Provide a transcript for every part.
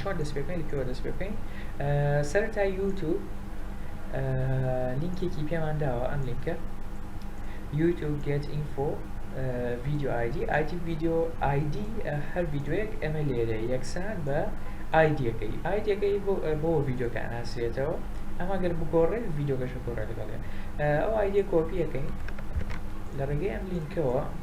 چۆن دەست پێ بکەین لە کوێوە دەست پێ بکەین سەرەتا یوتیوب لینکێکی پێمان داوە ئەم لینکە یوتیوب گێت ئینفۆ ڤیددیو ئایدی ئایتی ڤیددیو ئایدی هەر ڤیددیوەک ئەمە لێرە یەکسان بە ئایدیەکەی ئایدەکەی بۆ ڤیددیوکە ناسرێتەوە ئەمە گەر بگۆڕێت ڤیددیوگەشە گۆڕێت لەگەڵێ ئەو ئایدە کۆپیەکەی لە ڕێگەی ئەم لینکەوە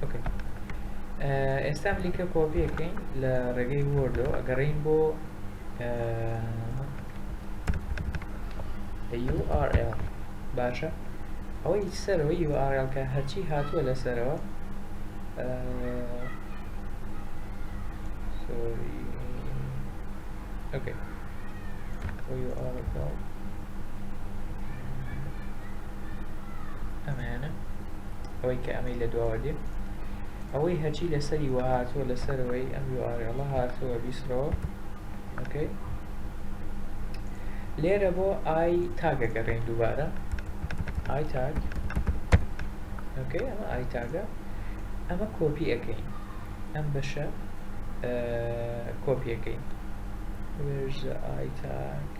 ئۆکەی ئێستا لیکە کۆپیەکەین لە ڕێگەی وردەوە ئەگەڕین بۆ URL باشە ئەوەی سەرەوە URL کە هەرچی هاتووە لەسەرەوە سۆری ئۆکەی URL ئەمەیانە ئەوەی کە ئەمەی لە دواوە دێ ئەوەی هەچی لەسەری وە هاتووە لەسەرەوەی ئەم یوارێڵە هاتووە بیسڕەوە ئۆکەی لێرە بۆ ئای تاگەگەڕێن دووبارە ئای تاگ ئۆکەی ئەمە ئای تاگە ئەمە کۆپی ئەەکەین ئەم بەشە کۆپیەکەی وێژە ئای تاگ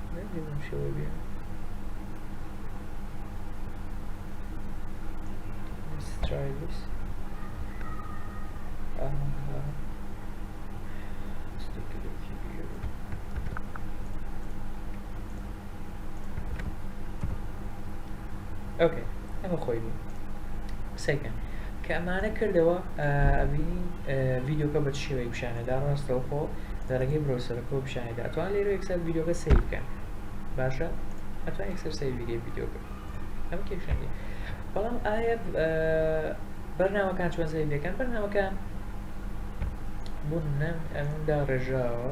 ئۆکەی ئەمە خۆی بوو قسەکەن کە ئەمانە کردەوە ئەبینی ڤیددیوکە بە شێوەی پیشانەدا ڕاستەوخۆ لەڕێگەی برۆسەرەکەوە پیشانەدا ئەتوان لێرە یەکسەر ڤیدیۆکە سەیر بکەن باشە ئەتوان یەکسەر سەیر ڤیدیۆ ڤیدیۆکە ئەم کێشەنی بەڵام ئایا بەرنامەکان چۆن سەیر دەکەن بەرنامەکان بوون نەم ئەمدا ڕێژاوە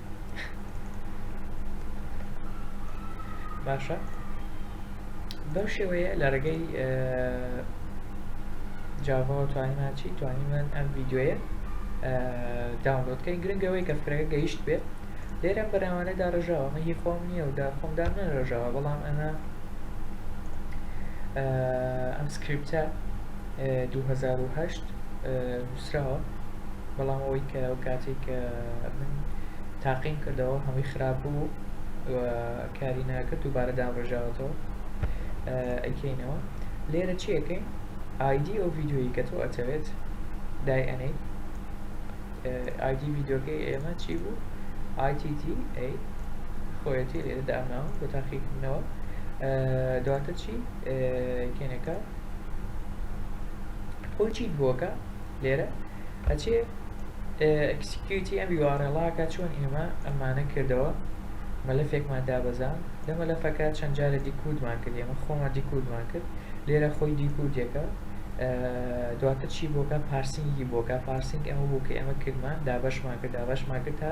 باشە بەم شێوەیە لە ڕێگەی جاڤەوە توانیمان چی توانیمان ئەم ڤیددیوەیە داونلۆدکەین گرنگەوەی کە فرەکە گەیشت بێت لێرەم بەراوانە داڕژاوە ئەمە هی خۆم نییە و دا خۆم دام نەڕژاوە بەڵام ئەمە ئەم سکرپتە 2010 نوسراوە بەڵام ئەوەی کە ئەو کاتێک کە من تاقیم کردەوە هەمووی خراپ بوو و کاری ناکرد دووبارە دامڕژاوەتەوە ئەکەینەوە لێرە چیەکەین ئایدی ئەو ڤیددیویی کە تۆ ئەتەوێت دای ئەنەی ئایدی ڤیددیوکەی ئێمە چی بوو ITT A خۆیەتی لێرە دامناوە بۆ تاقیکردنەوە دواتر چی کێنەکە خۆ چیت بۆکە لێرە ئەچێ ئەکسکیوتی ئەم یوارێڵاکە چۆن ئێمە ئەمانە کردەوە مەلەفێکمان دابەزان لە مەلەفەکە چەند جارە دیکوودمان کرد ئێمە خۆمان دیکوودمان کرد لێرە خۆی دیکوودێکە دواتر چی بۆکە پارسینگی بۆکە پارسینگ ئەمە بوو کە ئێمە کردمان دابەشمان کرد دابەشمان کرد تا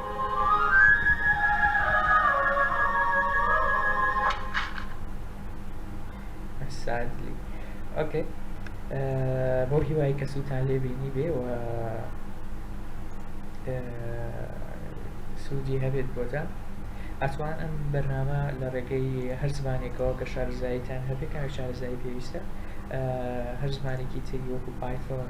بۆ هیوای کە سووتان لێ بینی بێ و سوودی هەبێت بۆتە ئەتوان ئەم بەرنامە لە ڕێگەی هەر زمانێکەوە کە شارزاییتان هەبێت کاوی شارزایی پێویستە هەر زمانێکی تری وەکو پایتۆن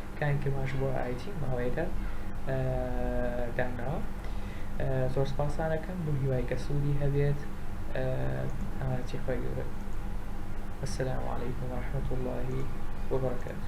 کاری ترمانش بۆ IT ماوەیەکە داناوە زۆر سپاسان ئەکەم بۆ هیوای کە سوودی هەبێت ئامانەتی خۆی گەورە السلام علیکم ورحمة الله وبرکاته